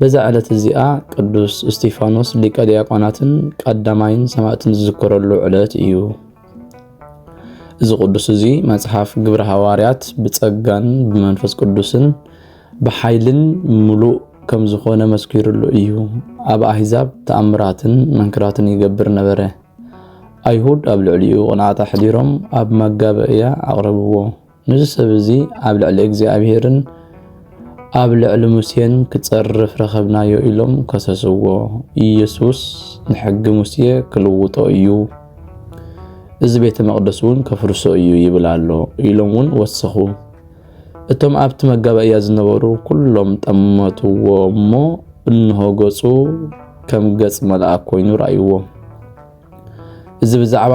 በዛ ዕለት እዚኣ ቅዱስ እስጢፋኖስ ሊቀ ዲያቆናትን ቀዳማይን ሰማእትን ዝዝከረሉ ዕለት እዩ። እዚ ቅዱስ እዚ መጽሓፍ ግብረ ሃዋርያት ብጸጋን ብመንፈስ ቅዱስን ብሓይልን ምሉእ ከም ዝኾነ መስኪሩሉ እዩ። ኣብ ኣህዛብ ተኣምራትን መንክራትን ይገብር ነበረ። ኣይሁድ ኣብ ልዕሊኡ ቅንዓት ኣሕዲሮም ኣብ መጋበእያ ኣቕረብዎ። ነዚ ሰብ እዚ ኣብ ልዕሊ እግዚኣብሔርን ኣብ ልዕሊ ሙሴን ክጸርፍ ረኸብናዮ ኢሎም ከሰስዎ። ኢየሱስ ንሕጊ ሙሴ ክልውጦ እዩ፣ እዚ ቤተ መቕደስ እውን ከፍርሶ እዩ ይብል ኣሎ ኢሎም እውን ወሰኹ። እቶም ኣብቲ መጋባእያ ዝነበሩ ኩሎም ጠመትዎ እሞ እንሆ ገጹ ከም ገጽ መልኣክ ኮይኑ ረኣይዎ። እዚ ብዛዕባ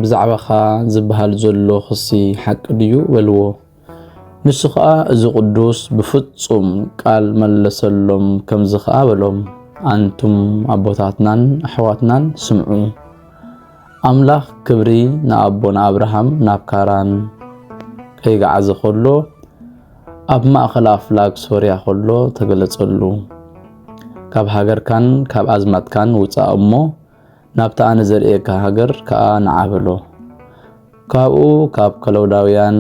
ብዛዕባኻ ዝበሃል ዘሎ ክሲ ሓቂ ድዩ በልዎ። ንሱ ኸኣ እዚ ቅዱስ ብፍጹም ቃል መለሰሎም፣ ከምዚ ኸኣ በሎም፣ ኣንቱም ኣቦታትናን ኣሕዋትናን ስምዑ፣ ኣምላኽ ክብሪ ንኣቦና ኣብርሃም ናብ ካራን ከይገዓዘ ኸሎ ኣብ ማእኸል ኣፍላግ ሶርያ ከሎ ተገለጸሉ። ካብ ሃገርካን ካብ ኣዝማትካን ውጻእ እሞ ናብታ ኣነ ዘርእየካ ሃገር ከኣ ንዓ በሎ። ካብኡ ካብ ከለውዳውያን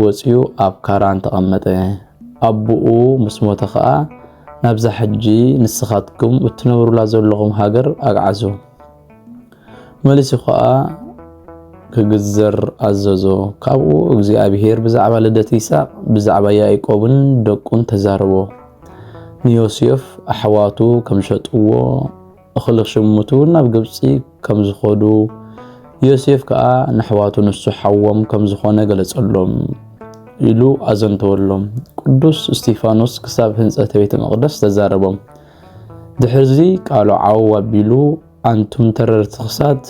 ወጺኡ ኣብ ካራን ተቐመጠ። ኣቡኡ ምስ ሞተ ከኣ ናብዛ ሕጂ ንስኻትኩም እትነብሩላ ዘለኹም ሃገር ኣግዓዞ። መሊሱ ከኣ ክግዘር ኣዘዞ። ካብኡ እግዚኣብሄር ብዛዕባ ልደት ይስሐቅ ብዛዕባ ያዕቆብን ደቁን ተዛረቦ። ንዮሴፍ ኣሕዋቱ ከም ሸጥዎ እኽሊ ክሽምቱ ናብ ግብጺ ከም ዝኸዱ፣ ዮሴፍ ከኣ ነሕዋቱ ንሱ ሓዎም ከም ዝኾነ ገለጸሎም። ኢሉ ኣዘንተወሎም። ቅዱስ እስጢፋኖስ ክሳብ ህንጸተ ቤተ መቕደስ ተዛረቦም። ድሕርዚ ቃሉ ዓው ኣቢሉ ኣንቱም ተረርቲ ክሳት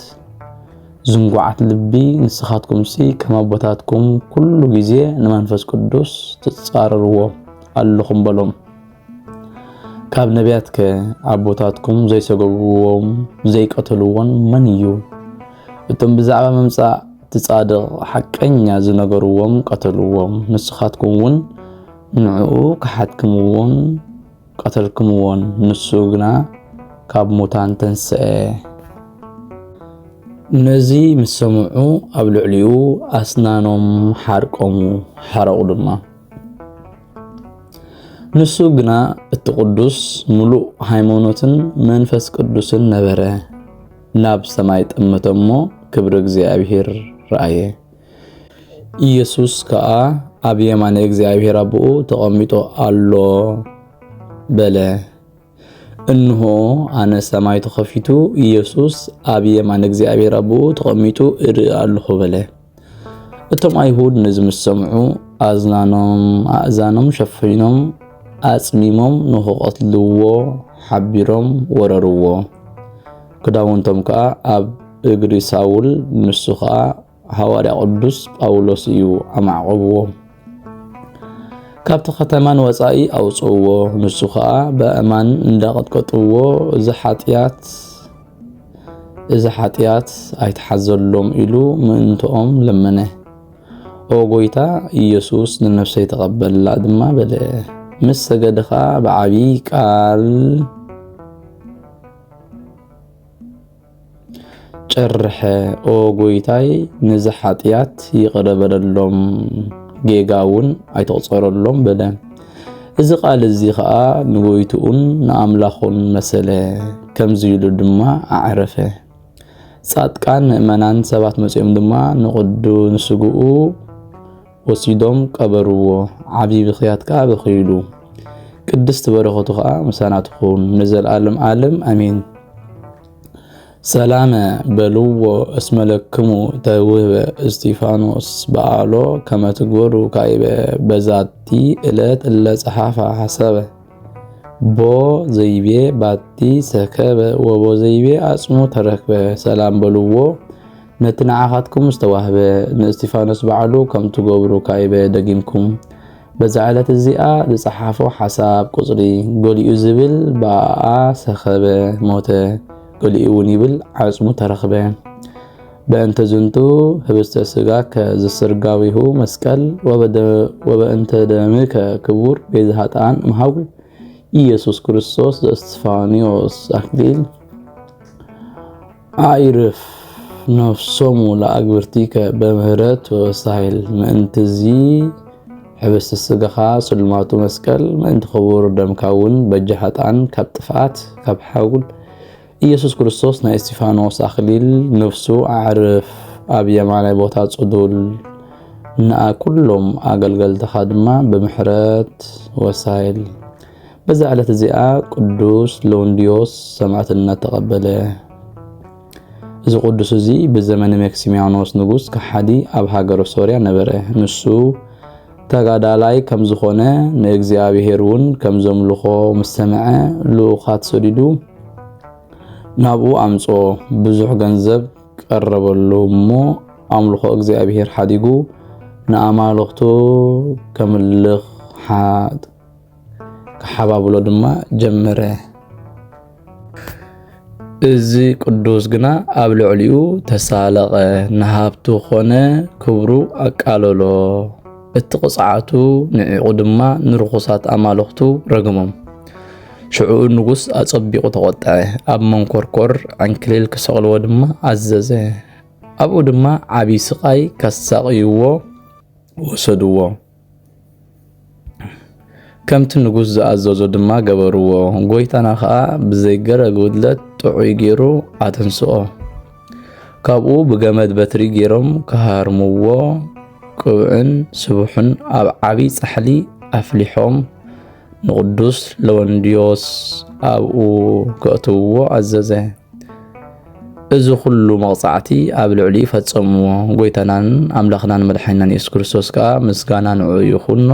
ዝንጓዓት ልቢ ንስኻትኩምሲ ከም ኣቦታትኩም ኩሉ ግዜ ንመንፈስ ቅዱስ ትጻረርዎ ኣለኹም በሎም። ካብ ነቢያት ከ ኣቦታትኩም ዘይሰጎግዎም ዘይቀተልዎን መን እዩ? እቶም ብዛዕባ ምምጻእ እቲ ጻድቕ ሓቀኛ ዝነገርዎም ቀተልዎም፣ ንስኻትኩም እውን ንዕኡ ከሓድክምዎን ቀተልክምዎን፣ ንሱ ግና ካብ ሙታን ተንስአ። ነዚ ምስ ሰምዑ ኣብ ልዕሊኡ ኣስናኖም ሓርቆሙ ሓረቑ ድማ። ንሱ ግና እቲ ቅዱስ ምሉእ ሃይማኖትን መንፈስ ቅዱስን ነበረ። ናብ ሰማይ ጠመተ እሞ ክብሪ እግዚኣብሔር ረኣየ። ኢየሱስ ከዓ ኣብ የማነ እግዚኣብሔር ኣቦኡ ተቐሚጦ ኣሎ በለ። እንሆ ኣነ ሰማይ ተኸፊቱ ኢየሱስ ኣብ የማን እግዚኣብሔር ኣቦኡ ተቐሚጡ እርኢ ኣለኹ በለ። እቶም ኣይሁድ ነዚ ምስ ሰምዑ ኣዝናኖም ኣእዛኖም ሸፊኖም ኣጽሚሞም ንኽቐትልዎ ሓቢሮም ወረርዎ። ክዳውንቶም ከኣ ኣብ እግሪ ሳውል ንሱ ኸኣ ሃዋርያ ቅዱስ ጳውሎስ እዩ ኣማዕቆብዎ ካብቲ ከተማ ንወጻኢ ኣውጽእዎ ንሱ ከዓ በእማን እንዳቐጥቀጥዎ እዚ ሓጢኣት እዚ ሓጢኣት ኣይትሓዘሎም ኢሉ ምእንትኦም ለመነ ኦ ጎይታ ኢየሱስ ንነፍሰይ ተቐበላ ድማ በለ ምስ ሰገደ ከዓ ብዓብዪ ቃል ጨርሐ ኦ ጎይታይ ነዚ ሓጢኣት ይቕረ በለሎም ጌጋ እውን ኣይተቑፀረሎም በለ። እዚ ቃል እዚ ኸዓ ንጎይትኡን ንኣምላኹን መሰለ ከምዚ ኢሉ ድማ ኣዕረፈ። ጻድቃን ምእመናን ሰባት መጺኦም ድማ ንቕዱን ስግኡ ወሲዶም ቀበርዎ ዓቢ ብኽያት ከኣ በኽይሉ። ቅድስት በረኸቱ ከኣ ምሳና ትኹን ንዘልኣለም ኣለም ኣሜን። ሰላመ በልዎ እስመ ለክሙ ተውህበ እስጢፋኖስ በኣሎ ከመ ትግበሩ ካይበ በዛቲ እለት እለ ጸሓፋ ሐሰበ ቦ ዘይቤ ባቲ ሰከበ ወቦ ዘይቤ ኣጽሙ ተረክበ ሰላም በልዎ ነቲ ንዓኻትኩም ዝተዋህበ ንእስቲፋኖስ በዓሉ ከም ትገብሩ ካይበ ደጊምኩም በዛ ዕለት እዚኣ ዝጸሓፎ ሓሳብ ቁጽሪ ገሊኡ ዝብል ብኣኣ ሰኸበ ሞተ ገሊኡ እውን ይብል ዓጽሙ ተረኽበ በእንተ ዝንቱ ህብስተ ስጋ ከዝስርጋዊሁ መስቀል ወበእንተ ደምከ ክቡር ቤዛ ኃጥኣን እምሃጉ ኢየሱስ ክርስቶስ ዘእስፋንዮስ አክሊል ኣዕርፍ ነፍሶሙ ለኣግብርቲከ በምህረት ወበሳሂል ምእንትዚ ሕብስቲ ስጋኻ ስልማቱ መስቀል ምእንቲ ክቡር ደምካ እውን በጃ ሀጣን ካብ ጥፍኣት ካብ ሓውል ኢየሱስ ክርስቶስ ናይ እስጢፋኖስ ኣኽሊል ነፍሱ ኣዕርፍ ኣብ የማናይ ቦታ ጽዱል ንኣ ኩሎም ኣገልገልትኻ ድማ ብምሕረት ወሳይል በዛ ዕለት እዚኣ ቅዱስ ሎንዲዮስ ሰማዕትነት ተቐበለ። እዚ ቅዱስ እዚ ብዘመነ መክሲሚያኖስ ንጉስ ከሓዲ ኣብ ሃገረ ሶርያ ነበረ። ንሱ ተጋዳላይ ከም ዝኾነ ንእግዚኣብሔር እውን ከም ዘምልኾ ምስ ሰምዐ ልኡኻት ሰዲዱ ናብኡ ኣምጾ ብዙሕ ገንዘብ ቀረበሉ እሞ ኣምልኾ እግዚኣብሔር ሓዲጉ ንኣማልኽቱ ከምልኽ ክሓባብሎ ድማ ጀመረ። እዚ ቅዱስ ግና ኣብ ልዕሊኡ ተሳለቐ፣ ንሃብቱ ኾነ ክብሩ ኣቃለሎ። እቲ ቅፅዓቱ ንዒቑ ድማ ንርኹሳት ኣማልኽቱ ረገሞም። ሽዑኡ ንጉስ ኣጸቢቑ ተቖጠዐ፣ ኣብ መንኮርኮር ዕንክሊል ክሰቕልዎ ድማ ኣዘዘ። ኣብኡ ድማ ዓብዪ ስቓይ ከሳቕይዎ ወሰድዎ። ከምቲ ንጉስ ዝኣዘዞ ድማ ገበርዎ፣ ጎይታና ኸኣ ብዘይገረ ጉድለት ጥዑይ ገይሩ ኣተንስኦ። ካብኡ ብገመድ በትሪ ገይሮም ክሃርምዎ፣ ቅብዕን ስቡሕን ኣብ ዓብዪ ጻሕሊ ኣፍሊሖም ንቕዱስ ለወንድዮስ ኣብኡ ከእትውዎ ኣዘዘ። እዚ ኩሉ መቕጻዕቲ ኣብ ልዕሊኡ ፈጸምዎ። ጎይታናን ኣምላኽናን መድሓኒናን የሱስ ክርስቶስ ከኣ ምስጋና ንዕኡ ይኹኖ፣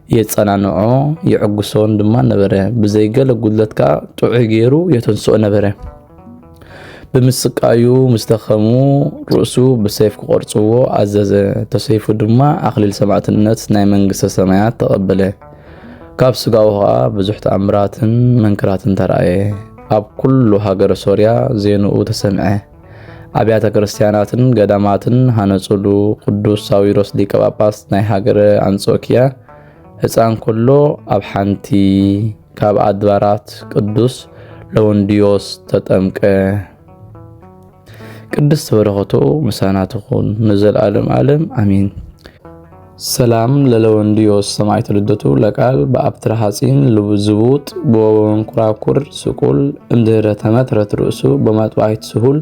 የጸናንዖ፣ የዕግሶን ድማ ነበረ። ብዘይ ገለ ጉድለት ከኣ ጥዑይ ገይሩ የተንስኦ ነበረ። ብምስቃዩ ምስ ደኸሙ ርእሱ ብሰይፍ ክቖርጽዎ ኣዘዘ። ተሰይፉ ድማ ኣኽሊል ሰማዕትነት ናይ መንግስተ ሰማያት ተቐበለ። ካብ ስጋኡ ኸኣ ብዙሕ ተኣምራትን መንክራትን ተራእየ። ኣብ ኩሉ ሃገረ ሶርያ ዜንኡ ተሰምዐ። ኣብያተ ክርስቲያናትን ገዳማትን ሃነጹሉ። ቅዱስ ሳዊሮስ ሊቀ ጳጳስ ናይ ሃገረ ኣንጾኪያ ህፃን ኩሎ ኣብ ሓንቲ ካብ ኣድባራት ቅዱስ ለወንድዮስ ተጠምቀ። ቅድስት በረከቱ ምሳና ትኹን ንዘልኣለም ኣለም ኣሜን። ሰላም ለለወንድዮስ ሰማዕት ልደቱ ለቃል በኣብትረ ሐጺን ዝቡጥ በወንኩራኩር ስቁል እንድህረ ተመትረት ርእሱ በመጥባይት ስሁል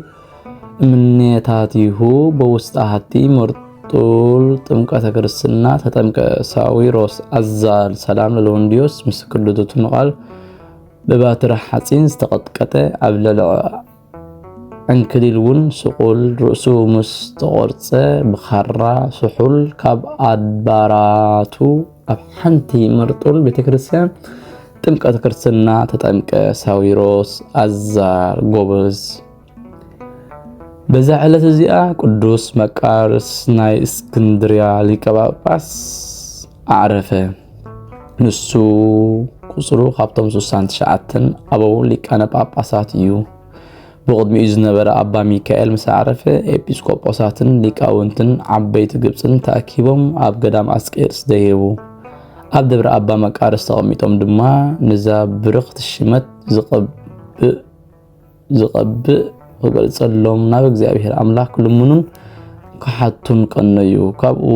እምኔታቲሁ በውስጥ አሐቲ መርጡል ጥምቀተ ክርስትና ተጠምቀ ሳዊሮስ አዛል ሰላም ለለወንድዮስ ምስክር ልደቱ ንቃል በባትረ ሐጺን ዝተቀጥቀጠ ኣብ ለለዐ ዕንክሊል እውን ስቑል ርእሱ ምስ ተቖርፀ ብኻራ ስሑል ካብ ኣድባራቱ ኣብ ሓንቲ መርጡል ቤተ ክርስቲያን ጥምቀት ክርስትና ተጠምቀ ሳዊሮስ ኣዛር ጎበዝ በዛ ዕለት እዚኣ ቅዱስ መቃርስ ናይ እስክንድርያ ሊቀ ጳጳስ ኣዕረፈ። ንሱ ቁጽሩ ካብቶም ስሳን ትሽዓትን ኣበው ሊቃነ ጳጳሳት እዩ። ብቕድሚኡ ዝነበረ ኣባ ሚካኤል ምስ ኣዕረፈ ኤጲስቆጶሳትን ሊቃውንትን ዓበይቲ ግብፅን ተኣኪቦም ኣብ ገዳም ኣስቄጥስ ደየቡ። ኣብ ደብረ ኣባ መቃርስ ተቐሚጦም ድማ ንዛ ብርኽቲ ሽመት ዝቐብእ ዝቐብእ ክገልጸሎም ናብ እግዚኣብሔር ኣምላኽ ክልምኑን ክሓቱን ቀነዩ። ካብኡ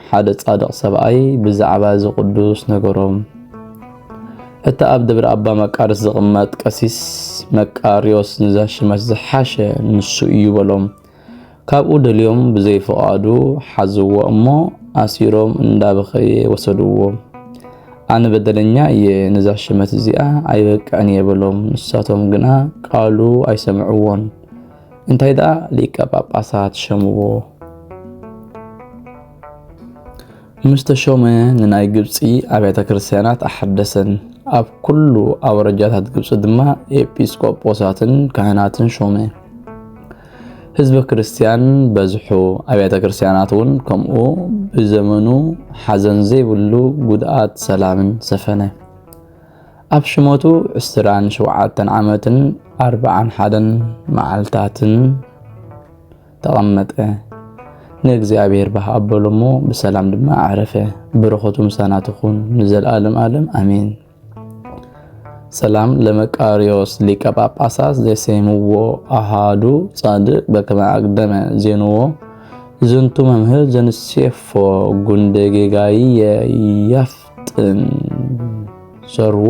ሓደ ጻድቕ ሰብኣይ ብዛዕባ እዚ ቅዱስ ነገሮም። እቲ ኣብ ደብረ ኣባ መቃርስ ዝቕመጥ ቀሲስ መቃርዮስ ንዘሽመት ዝሓሸ ንሱ እዩ በሎም። ካብኡ ደልዮም ብዘይፍቓዱ ሓዝዎ እሞ ኣሲሮም እንዳበኸየ ወሰድዎ። ኣነ በደለኛ እየ ነዛ ሽመት እዚኣ ኣይበቅዕን እየ በሎም። ንሳቶም ግና ቃሉ ኣይሰምዕዎን። እንታይ ደኣ ሊቀ ጳጳሳት ሸምዎ። ምስ ተሾመ ንናይ ግብጺ ኣብያተ ክርስቲያናት ኣሐደሰን፣ ኣብ ኩሉ ኣውረጃታት ግብጺ ድማ ኤጲስቆጶሳትን ካህናትን ሾመ። ህዝበ ክርስቲያን በዝሑ፣ ኣብያተ ክርስቲያናት እውን ከምኡ፣ ብዘመኑ ሓዘን ዘይብሉ ጉድኣት ሰላምን ሰፈነ። ኣብ ሽመቱ ዕስራን ሸውዓተን ዓመትን ኣርብዓን ሓደን መዓልታትን ተቐመጠ። ንእግዚኣብሔር ባህ ኣበሎ እሞ ብሰላም ድማ ኣዕረፈ። በረኸቱ ምሳና ትኹን ንዘልኣለም ኣለም ኣሜን። ሰላም ለመቃርዮስ ሊቀ ጳጳሳት ዘሰይምዎ ኣሃዱ ጻድቅ በከመ አቅደመ ዜንዎ ዝንቱ መምህር ዘንሴፎ ጉንደ ጌጋይ የፍጥን ሰርዎ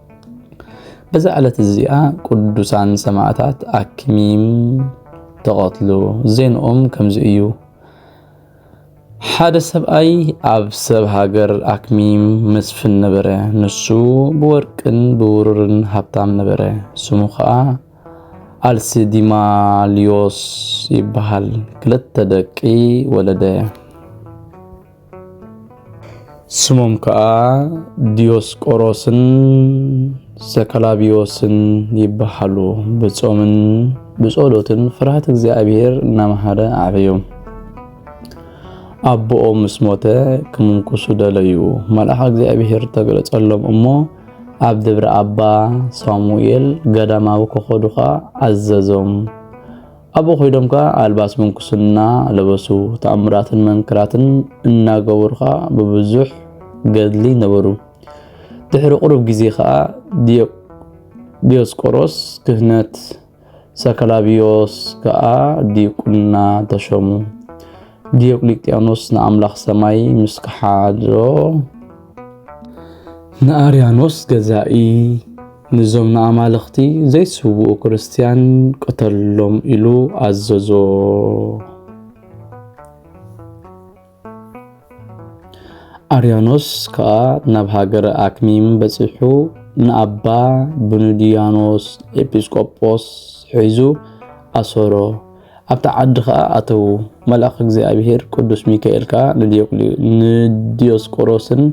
በዛ ዕለት እዚኣ ቅዱሳን ሰማዕታት ኣክሚም ተቐትሉ። ዜንኦም ከምዚ እዩ። ሓደ ሰብኣይ ኣብ ሰብ ሃገር ኣክሚም መስፍን ነበረ። ንሱ ብወርቅን ብውሩርን ሃብታም ነበረ። ስሙ ኸዓ ኣልሲዲማልዮስ ይበሃል። ክልተ ደቂ ወለደ። ስሞም ከዓ ዲዮስቆሮስን ዘከላቢዎስን ይበሃሉ። ብጾምን ብጸሎትን ፍርሃት እግዚኣብሔር እናመሃረ ኣዕበዮም። ኣቦኦም ምስ ሞተ ክምንኩሱ ደለዩ። መልኣኽ እግዚኣብሔር ተገለጸሎም እሞ ኣብ ደብረ ኣባ ሳሙኤል ገዳማዊ ከኸዱኻ ኣዘዞም። ኣብኡ ኮይዶም ከኣ ኣልባስ ምንኩስና ለበሱ፣ ተኣምራትን መንክራትን እናገበሩ ከኣ ብብዙሕ ገድሊ ነበሩ። ድሕሪ ቁሩብ ግዜ ከኣ ዲዮስቆሮስ ክህነት፣ ሰከላብዮስ ከኣ ዲቁና ተሾሙ። ዲዮቅሊጥያኖስ ንኣምላኽ ሰማይ ምስ ከሓዶ ንኣርያኖስ ገዛኢ ንዞም ንኣማልኽቲ ዘይስውኡ ክርስትያን ቅተሎም ኢሉ ኣዘዞ። ኣርያኖስ ከኣ ናብ ሃገረ ኣክሚም በጺሑ ንኣባ ብኑድያኖስ ኤጲስቆጶስ ሒዙ ኣሰሮ። ኣብታ ዓዲ ኸኣ ኣተዉ። መልኣኽ እግዚኣብሄር ቅዱስ ሚካኤል ከኣ ንዲዮስቆሮስን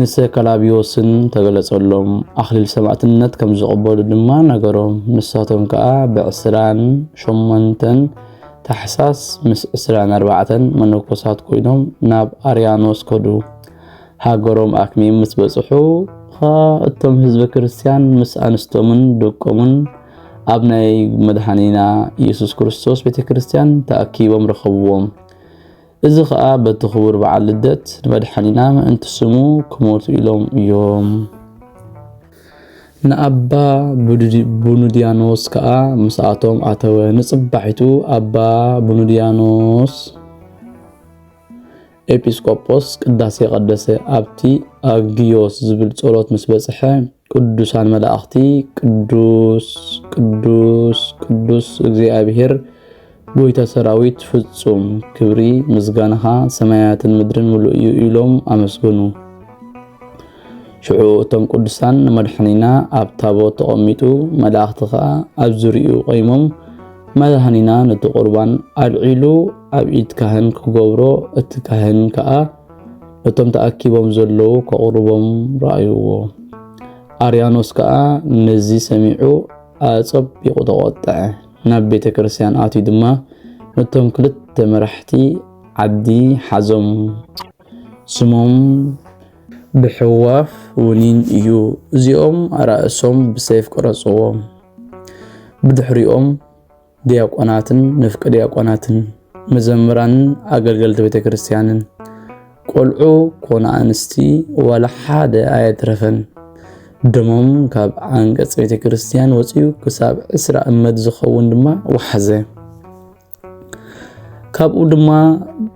ንሰከላብዮስን ተገለጸሎም፣ ኣኽሊል ሰማእትነት ከም ዝቕበሉ ድማ ነገሮም። ንሳቶም ከኣ ብዕስራን ሸሞንተን ታሕሳስ ምስ ዕስራን ኣርባዕተን መነኮሳት ኮይኖም ናብ ኣርያኖስ ከዱ። ሃገሮም ኣክሚም ምስ በጽሑ ኸኣ እቶም ህዝበ ክርስቲያን ምስ ኣንስቶምን ደቆምን ኣብ ናይ መድኃኒና ኢየሱስ ክርስቶስ ቤተ ክርስቲያን ተኣኪቦም ረኸብዎም። እዚ ኸኣ በቲ ክቡር በዓል ልደት ንመድኃኒና ምእንቲ ስሙ ክሞቱ ኢሎም እዮም። ንኣባ ቡኑድያኖስ ከኣ ምስኣቶም ኣተወ። ንጽባሒቱ ኣባ ቡኑድያኖስ ኤጲስቆጶስ ቅዳሴ ቀደሰ። ኣብቲ ኣግዮስ ዝብል ጸሎት ምስ በጽሐ ቅዱሳን መላእኽቲ ቅዱስ ቅዱስ ቅዱስ እግዚኣብሔር ጎይታ ሰራዊት ፍጹም ክብሪ ምስጋናኻ ሰማያትን ምድርን ምሉእ እዩ ኢሎም ኣመስገኑ። ሽዑ እቶም ቅዱሳን ንመድሓኒና ኣብ ታቦት ተቐሚጡ መላእኽቲ ኸዓ ኣብ ዝርኡ ቆይሞም መድሃኒና ነቲ ቁርባን ኣልዒሉ ኣብ ኢድ ካህን ክገብሮ እቲ ካህን ከዓ ነቶም ተኣኪቦም ዘለዉ ከቕርቦም ረኣይዎ። ኣርያኖስ ከኣ ነዚ ሰሚዑ ኣጸቢቑ ተቖጠዐ። ናብ ቤተ ክርስቲያን ኣትዩ ድማ ነቶም ክልተ መራሕቲ ዓዲ ሓዞም። ስሞም ብሕዋፍ ውኒን እዩ። እዚኦም ኣራእሶም ብሰይፍ ቀረጽዎም። ብድሕሪኦም ዲያቆናትን ንፍቂ ዲያቆናትን መዘምራንን ኣገልገልቲ ቤተ ክርስቲያንን ቆልዑ ኮነ ኣንስቲ ዋላ ሓደ ኣየትረፈን ደሞም ካብ ዓንቀጽ ቤተ ክርስቲያን ወፅዩ ክሳብ ዕስራ እመት ዝኸውን ድማ ወሓዘ ካብኡ ድማ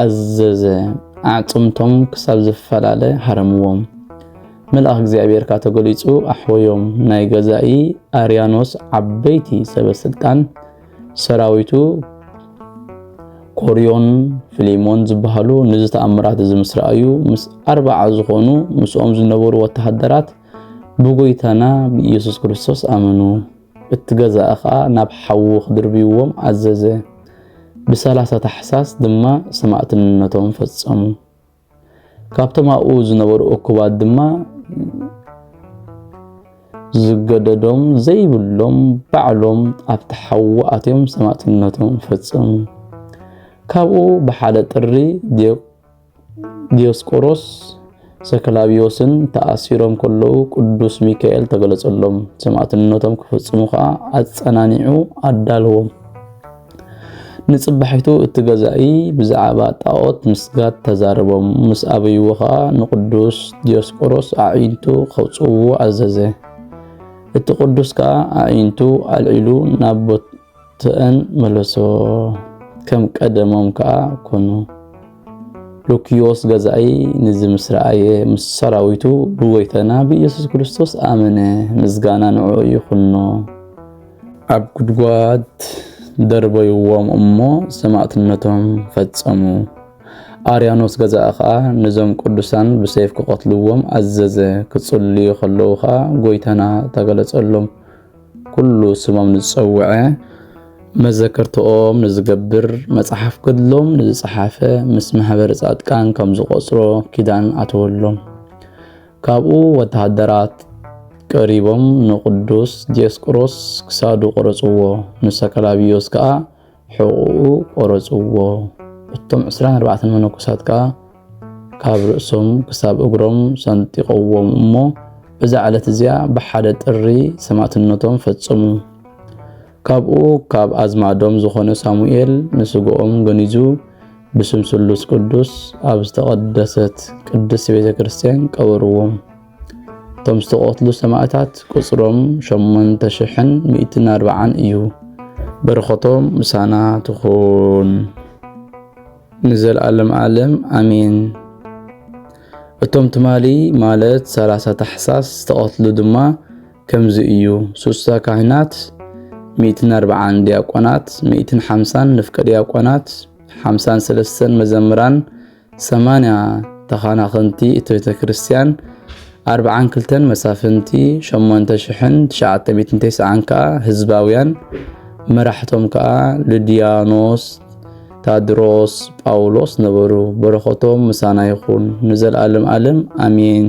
ኣዘዘ፣ ኣዕጽምቶም ክሳብ ዝፈላለ ሃረምዎም። መልኣኽ እግዚኣብሔር ካኣ ተገሊጹ ኣሕወዮም፣ ናይ ገዛኢ ኣርያኖስ ዓበይቲ ሰበ ስልጣን ሰራዊቱ ኮርዮን ፍሊሞን ዝበሃሉ ነዚ ተኣምራት እዚ ምስ ረኣዩ ምስ ኣርባዓ ዝኾኑ ምስኦም ዝነበሩ ወተሃደራት ብጎይታና ብኢየሱስ ክርስቶስ ኣመኑ። እቲ ገዛኢ ከኣ ናብ ሓዊ ክድርብይዎም ኣዘዘ። ብሰላሳ ታሕሳስ ድማ ሰማእትነቶም ፈጸሙ። ካብቶም ኣብኡ ዝነበሩ እኩባት ድማ ዝገደዶም ዘይብሎም ባዕሎም ኣብቲ ሓዊ ኣትዮም ሰማእትነቶም ፈጸሙ። ካብኡ ብሓደ ጥሪ ዲዮስቆሮስ ሰከላብዮስን ተኣሲሮም ከለዉ ቅዱስ ሚካኤል ተገለጸሎም፣ ሰማዕትነቶም ክፍጽሙ ኸኣ ኣጸናኒዑ ኣዳልዎም። ንጽባሒቱ እቲ ገዛኢ ብዛዕባ ጣዖት ምስጋድ ተዛረቦም፣ ምስ ኣበይዎ ኸኣ ንቅዱስ ዲዮስቆሮስ ኣዒንቱ ከውጽእዎ ኣዘዘ። እቲ ቅዱስ ከኣ ኣዒንቱ ኣልዒሉ ናብ ተን መለሶ ከም ቀደሞም ከኣ ኮኑ። ሉክዮስ ገዛኢ ንዚ ምስ ረኣየ ምስ ሰራዊቱ ብጎይታና ብኢየሱስ ክርስቶስ ኣመነ፣ ምስጋና ንዕኡ ይኹኖ። ኣብ ጉድጓድ ደርበይዎም እሞ ሰማእትነቶም ፈጸሙ። ኣርያኖስ ገዛኢ ከኣ ነዞም ቅዱሳን ብሰይፍ ክቐትልዎም ኣዘዘ። ክጽልዩ ከለዉ ከኣ ጎይታና ተገለጸሎም። ኩሉ ስሞም ንዝጸውዐ መዘከርትኦም ንዝገብር መጽሓፍ ገድሎም ንዝጸሓፈ ምስ ማሕበረ ጻድቃን ከም ዝቖጽሮ ኪዳን ኣተወሎም። ካብኡ ወተሃደራት ቀሪቦም ንቅዱስ ዲዮስቆሮስ ክሳዱ ቆረጽዎ፣ ንሰከላብዮስ ከኣ ሕቕኡ ቆረጽዎ። እቶም ዕስራን ኣርባዕተን መነኮሳት ከኣ ካብ ርእሶም ክሳብ እግሮም ሰንጢቐዎም እሞ እዛ ዕለት እዚኣ ብሓደ ጥሪ ሰማእትነቶም ፈጸሙ። ካብኡ ካብ ኣዝማዶም ዝኾነ ሳሙኤል ንስግኦም ገኒዙ ብስም ስሉስ ቅዱስ ኣብ ዝተቐደሰት ቅድስት ቤተ ክርስቲያን ቀበርዎም። እቶም ዝተቐትሉ ሰማእታት ቁጽሮም ሸሞንተ ሽሕን ሚእትን ኣርባዓን እዩ። በረኸቶም ምሳና ትኹን ንዘለኣለም ኣለም ኣሜን። እቶም ትማሊ ማለት ሰላሳ ታሕሳስ ዝተቐትሉ ድማ ከምዚ እዩ ሱሳ ካህናት ሚእትን ኣርብዓን ዲያቆናት ሚእትን ሓምሳን ንፍቀ ዲያቆናት ሓምሳን ሰለስተን መዘምራን ሰማንያ ተኻናኸንቲ እቲ ቤተ ክርስቲያን፣ ኣርብዓን ክልተን መሳፍንቲ፣ ሸሞንተ ሽሕን ትሽዓተ ሚእትን ተስዓን ከኣ ህዝባውያን፣ መራሕቶም ከኣ ልድያኖስ፣ ታድሮስ፣ ጳውሎስ ነበሩ። በረኸቶም ምሳና ይኹን ንዘልኣለም ኣለም ኣሜን።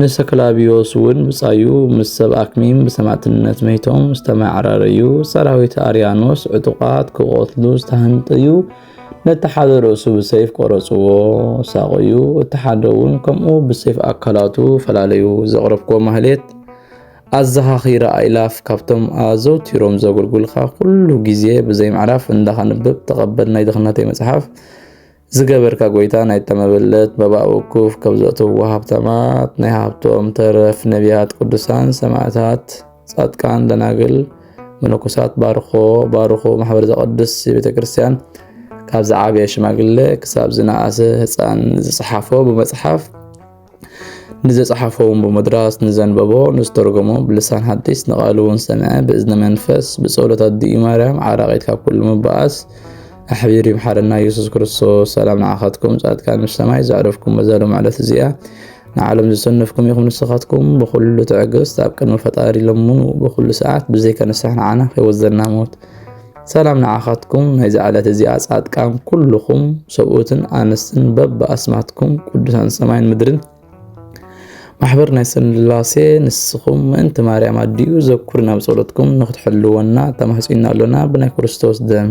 ንሰክላቢዮስ እውን ብጻዩ ምስ ሰብ ኣክሚም ብሰማእትነት መይቶም ዝተመዓራረዩ ሰራዊት ኣርያኖስ ዕጡቓት ክቖትሉ ዝተሃንጠዩ ነቲ ሓደ ርእሱ ብሰይፍ ቆረጽዎ ሳቆዩ እቲ ሓደ እውን ከምኡ ብሰይፍ ኣካላቱ ፈላለዩ ዘቕረብኮ ማህሌት ኣዘኻኺረ ኣይላፍ ካብቶም ኣዘውቲሮም ዘገልጉልካ ኩሉ ግዜ ብዘይምዕራፍ እንዳኸንብብ ተቐበል ናይ ድኽነተይ መጽሓፍ ዝገበርካ ጎይታ ናይ ተመበለት መባእ ውኩፍ ከብ ዘእትዎ ሃብታማት ናይ ሃብቶም ተረፍ ነቢያት ቅዱሳን ሰማዕታት ጻድቃን ደናግል መነኮሳት ባርኮ ባርኮ ማሕበር ዘቐድስ ቤተ ክርስቲያን ካብ ዝዓበየ ሽማግለ ክሳብ ዝነኣሰ ህፃን ዝፅሓፎ ብመፅሓፍ ንዘጸሓፎ እውን ብመድራስ ንዘንበቦ ንዝተርጎሞ ብልሳን ሓዲስ ንቓሉ እውን ሰምዐ ብእዝነ መንፈስ ብጸሎት ኣዲኡ ማርያም ዓራቂት ካብ ኩሉ ምባኣስ ኣሕቢሩ ይምሓረና ኢየሱስ ክርስቶስ ሰላም ንዓኻትኩም ጻድቃን ምስ ሰማይ ዘዕረፍኩም በዛሎም ዕለት እዚኣ ንዓለም ዝሰነፍኩም ኢኹም ንስኻትኩም ብኹሉ ትዕግስት ኣብ ቅድሚ ፈጣሪ ለምኑ ብኹሉ ሰዓት ብዘይካ ንስራሕ ንዓና ከይወዘና ሞት ሰላም ንዓኻትኩም ናይዛ ዕለት እዚኣ ጻድቃን ኩልኹም ሰብኡትን ኣንስትን በብኣስማትኩም ቅዱሳን ሰማይን ምድርን ማሕበር ናይ ስላሴ ንስኹም ምእንቲ ማርያም ኣዲኡ ዘኩር ናብ ጸሎትኩም ንክትሕልወና ተማሕጺና ኣሎና ብናይ ክርስቶስ ደም